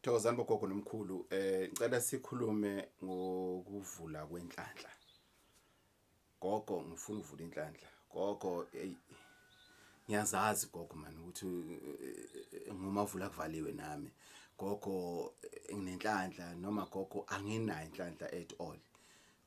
Thokozani bogogo nomkhulu eh ngicela sikhulume ngokuvula kwenhlanhla. Gogo ngifuna ukuvula inhlanhla. Gogo hey ngiyazazi gogo man ukuthi eh, ngoma vula kuvaliwe nami. Gogo eh, nginenhlanhla noma gogo anginayo inhlanhla at all.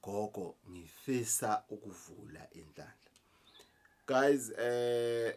Gogo ngifisa ukuvula inhlanhla. Guys eh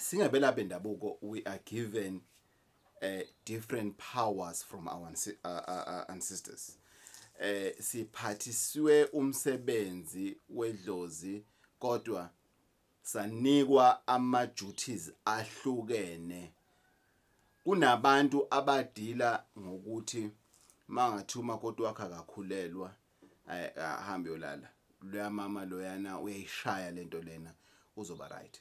singabelaphi bendabuko we are given uh, different powers from our uh, uh, uh, ancestors eh siphathiswe umsebenzi wedlozi kodwa sanikwa ama duties ahlukene kunabantu abadila ngokuthi mangathuma kodwa wakhe akakhulelwa ay ahambe yolala loya mama loyana uyayishaya lento lena uzoba right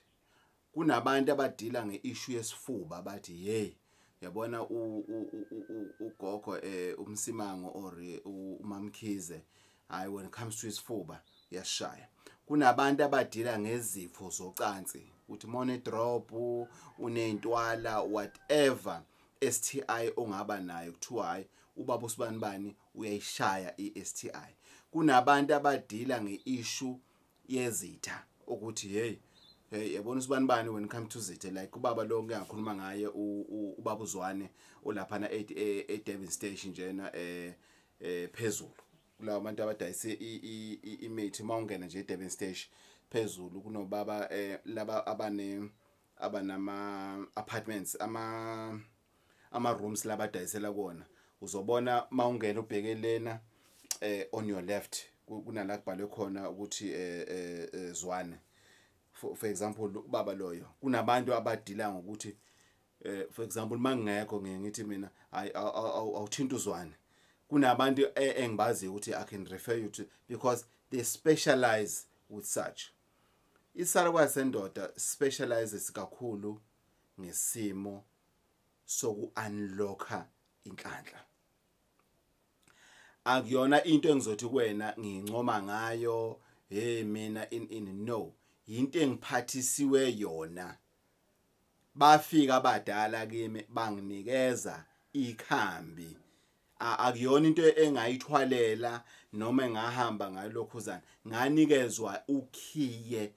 kunabantu abadila ngeissue yesifuba bathi hey yabona ugogo eh umsimango or eh, umamkhize hayi when it comes to isifuba uyashaya kunabantu abadila ngezifo zocansi uthi mone drop unentwala whatever STI ongaba nayo kuthiwa hayi ubaba usibani bani uyayishaya iSTI kunabantu abadila ngeissue yezitha ukuthi hey hey yabona usibani bani when come to zithe like ubaba lo ngiyakhuluma ngaye ubaba uzwane olapha na e, e Devon station njena eh, eh phezulu kulawo bantu abadayise imithi mawungena nje e Devon station phezulu kunobaba eh laba abane abanama apartments ama ama rooms labadayisela kona uzobona mawungena ubheke lena eh on your left kunala kubhalwe khona ukuthi eh, eh, eh zwane for, for example ubaba loyo kunabantu abadila ngokuthi eh for example mangekho ngeke ngithi mina awuthinta uzwane kunabantu e, engibazi ukuthi i can refer you to because they specialize with such isarwa sendoda specializes kakhulu ngesimo soku-unlocka inhlanhla akuyona into engizothi kuwena ngincoma ngayo hey mina in in no yinto engiphathisiwe yona bafika abadala kimi banginikeza ikhambi akuyona into engayithwalela noma engahamba ngalokhuzana nganikezwa ukhiye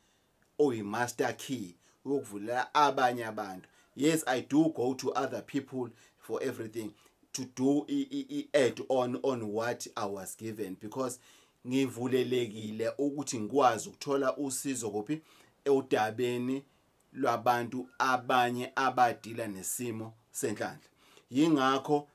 oyi master key ukuvulela abanye abantu yes i do go to other people for everything to do i, i, i add on on what i was given because ngivulelekile ukuthi ngikwazi ukuthola usizo kuphi eudabeni lwabantu abanye abadila nesimo senhlanhla yingakho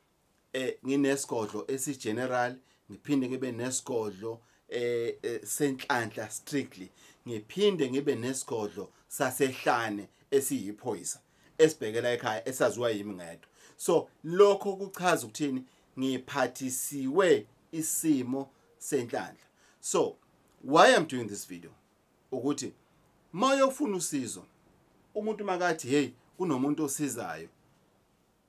eh nginesigodlo esigeneral ngiphinde ngibe nesigodlo eh, eh senhlanhla strictly ngiphinde ngibe nesigodlo sasehlane esiyiphoyisa esibhekela ekhaya esaziwa yimi ngedwa so lokho kuchaza ukuthini ngiphathisiwe isimo senhlanhla so why i'm doing this video ukuthi mayofuna usizo umuntu makathi hey kunomuntu osizayo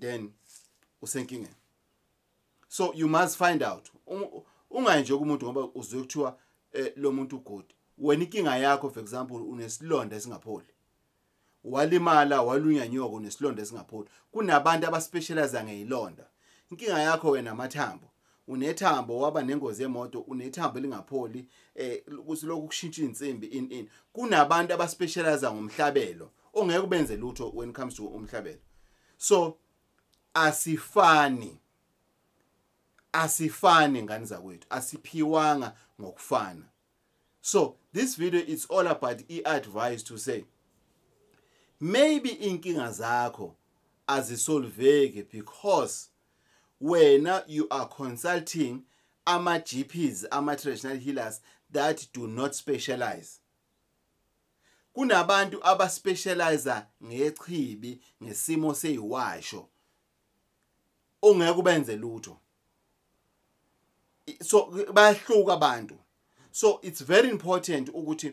then usenkingeni so you must find out ungayi nje kumuntu ngoba uzwe kuthiwa eh, lo muntu good wena inkinga yakho for example unesilonda esingapholi walimala walunya nyoko nesilonda esingapholi kunabantu abaspecialize ngeyilonda inkinga yakho wena amathambo unethambo waba nengozi yemoto unethambo elingapholi eh kusilokhu kushintsha insimbi in in kunabantu abaspecialize ngomhlabelo ongeke ubenze lutho when it comes to umhlabelo so asifani asifani ngani zakwethu asiphiwanga ngokufana so this video it's all about i-advice to say maybe inkinga zakho azisolveki because wena you are consulting ama GPs ama traditional healers that do not specialize kunabantu abaspecializer ngechibi ngesimo seyiwasho ongeke ubenze lutho so bayahluka abantu so it's very important ukuthi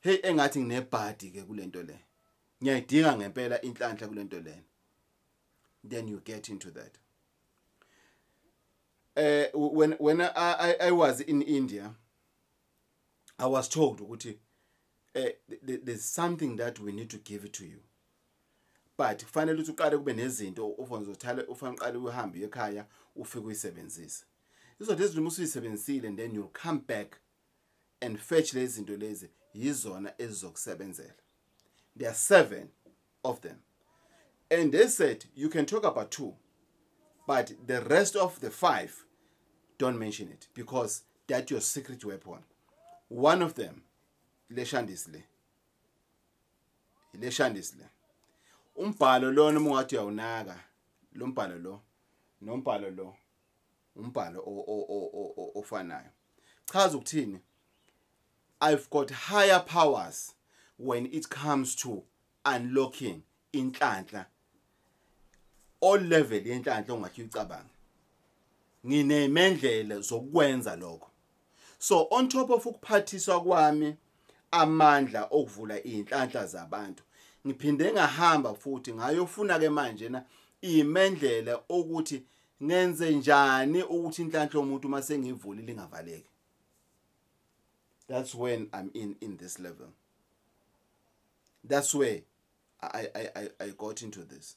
Hey engathi nginebhadi ke kulento le. Ngiyayidinga ngempela inhlanhla kulento lena. Then you get into that. Eh uh, when when I, I I was in India I was told ukuthi eh uh, there's something that we need to give it to you. But kufanele ukuthi uqale kube nezinto ufanele uzothale ufanele uqale uhambe ekhaya ufike uyisebenzise. Izothi ezilimo usuyisebenzisile and then you'll come back and fetch lezi zinto lezi yizona ezizokusebenzela there are seven of them and they said you can talk about two but the rest of the five don't mention it because that your secret weapon one of them leshandisi le leshandisi le umbhalo lona uma ungathi uyawunaka lo mbhalo lo nombhalo lo umbhalo ofanayo chaza ukuthini i've got higher powers when it comes to unlocking inhlanhla all level yenhlanhla ongathi uyicabanga nginemendlela zokwenza lokho so on top of ukuphathiswa kwami amandla okuvula izinhlanhla zabantu ngiphinde ngahamba futhi ngayofuna ke manje na imendlela ukuthi ngenze njani ukuthi inhlanhla yomuntu uma sengivulile ingavaleki that's when i'm in in this level that's where i i i, I got into this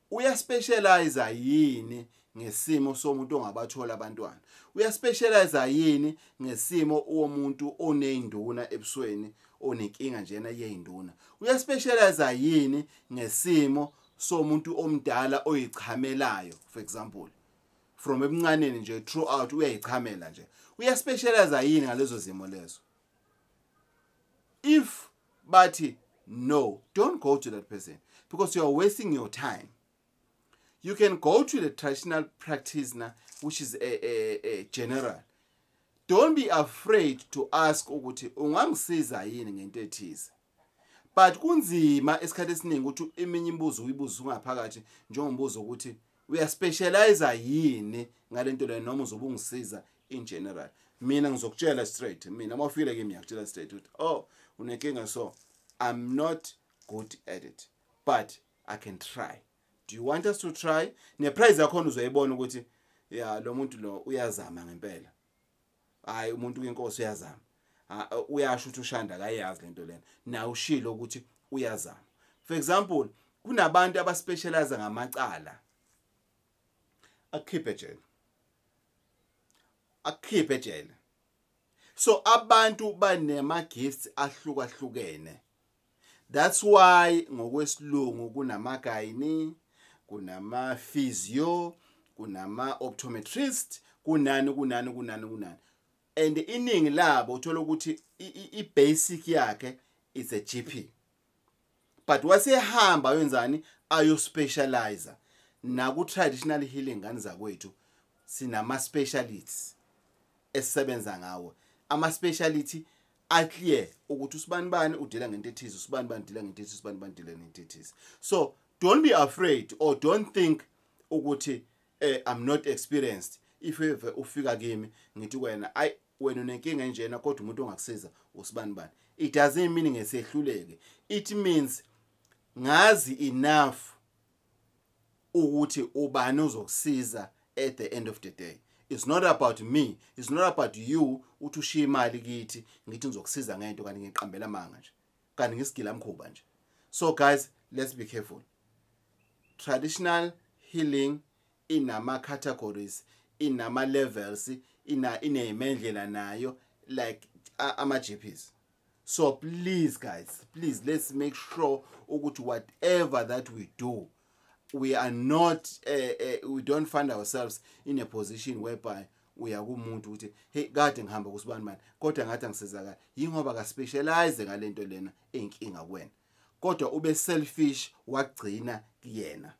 uyaspecialize yini ngesimo somuntu ongabathola abantwana uyaspecialize yini ngesimo womuntu oneyinduna ebusweni onenkinga njena yeyinduna uyaspecialize yini ngesimo somuntu omdala oyichamelayo for example from ebuncaneni nje throughout uyayichamela nje uyaspecialize yini ngalezo zimo lezo if bathi no don't go to that person because you are wasting your time you can go to the traditional practice na which is a, a, a general don't be afraid to ask ukuthi ungangisiza yini ngento ethize but kunzima esikhathi esiningi ukuthi eminye imibuzo uyibuza ungaphakathi njengombuzo ukuthi uyaspecialize yini ngalento le noma uzobe ungisiza in general mina ngizokutshela straight mina uma ufikile kimi ngiyakutshela straight ukuthi oh unenkinga so i'm not good at it but i can try do you want us to try neprize yakhona uzoyibona ukuthi ya lo muntu lo uyazama ngempela hayi umuntu kwenkosi uyazama uyasho ukuthi ushanda akayazi lento lena naye ushilo ukuthi uyazama for example kunabantu abaspecialize ngamacala akukhiphe ejele akukhiphe ejele so abantu banema gifts ahlukahlukene that's why ngokwesilungu kunamagayini kunama-physio kunama-optometrist kunani kunani kunani kunani and iningi labo uthola ukuthi i-basic yakhe is a g p but wasehamba ayonzani ayospecializa naku-traditional healing ngani zakwethu sinama-specialists esisebenza ngawo ama speciality a clear ukuthi usibani bani udila ngento ethize usibani bani udila ngento ethize usibani bani udila ngento ethize so don't be afraid or don't think ukuthi eh i'm not experienced if ever ufika kimi ngithi kwena ay wena unenkinga enjena kodwa umuntu ongakusiza usibani bani it doesn't mean ngesehluleke it means ngazi enough ukuthi ubani uzokusiza at the end of the day it's not about me it's not about you uthi ushiya imali kithi ngithi ngizokusiza ngento kanti ngiqambela amanga nje kanti ngisigila mkhuba nje so guys let's be careful traditional healing inama categories inama levels ina inemendlela nayo like ama GPs so please guys please let's make sure ukuthi whatever that we do we are not uh, uh, we don't find ourselves in a position whereby uya kumuntu ukuthi hey kade ngihamba kusibani manje kodwa ngathi angisizakala yingoba ka specialize ngalento lena enkinga kuwena kodwa ube selfish wagcina kuyena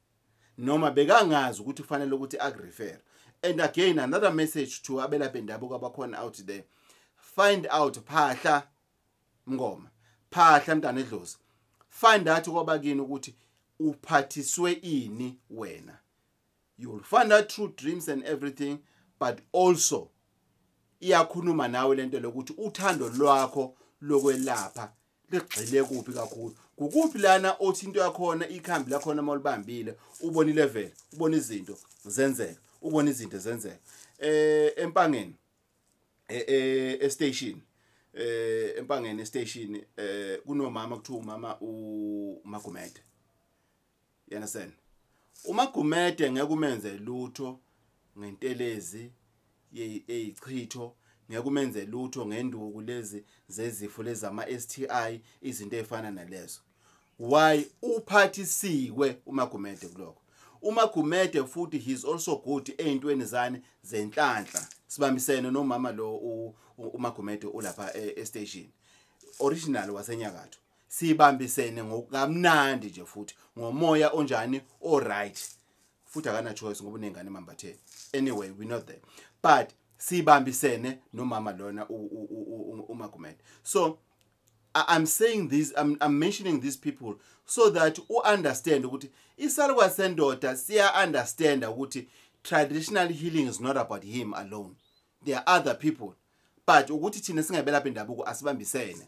noma bekangazi ukuthi kufanele ukuthi akurefer and again another message to abelaphi bendabuko abakhona out there find out phahla mngoma phahla mntana edlozi find out kwabakini ukuthi uphathiswe ini wena you will find out true dreams and everything but also iyakhuluma nawe lento lokuthi uthando lwakho lokwelapha ligxile kuphi kakhulu kukuphi lana othi into yakhona ikhambi lakhona uma ulibambile ubona ilevel ubona izinto zenzeka ubona izinto zenzeka eh empangeni eh, eh estation eh empangeni estation eh kunomama kuthiwa umama uMagumede You understand? UMagumede ngeke umenze lutho ngentelezi eyichitho ngeke umenze lutho ngenduku lezi zezifo lezama STI izinto ezifana nalezo why uphathisiwe uMagumede kuloko uMagumede futhi he's also good eintweni zani zenhlanhla sibambisene nomama lo uMagumede ulapha e-station original wasenyakatho sibambisene ngokamnandi nje futhi ngomoya onjani all right futhi akana choice ngoba unengane mambatheni anyway we not there but sibambisene nomama lona umagumele so I'm saying this I'm, I'm mentioning these people so that u understand ukuthi isalukwa sendoda siya understand ukuthi traditional healing is not about him alone there are other people but ukuthi thina singabelaphi indabuko asibambisene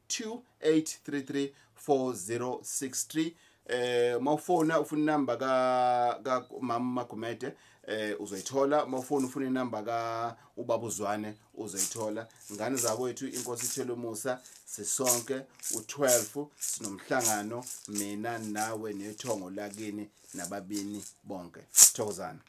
28334063 eh mawufona ufuna inamba ka ka mama Magumede eh uzoyithola mawufona ufuna inamba ka ubaba uzwane uzoyithola ngane zakwethu inkosi ithele umusa sisonke u12 sinomhlangano mina nawe nethongo lakini nababini bonke thokozana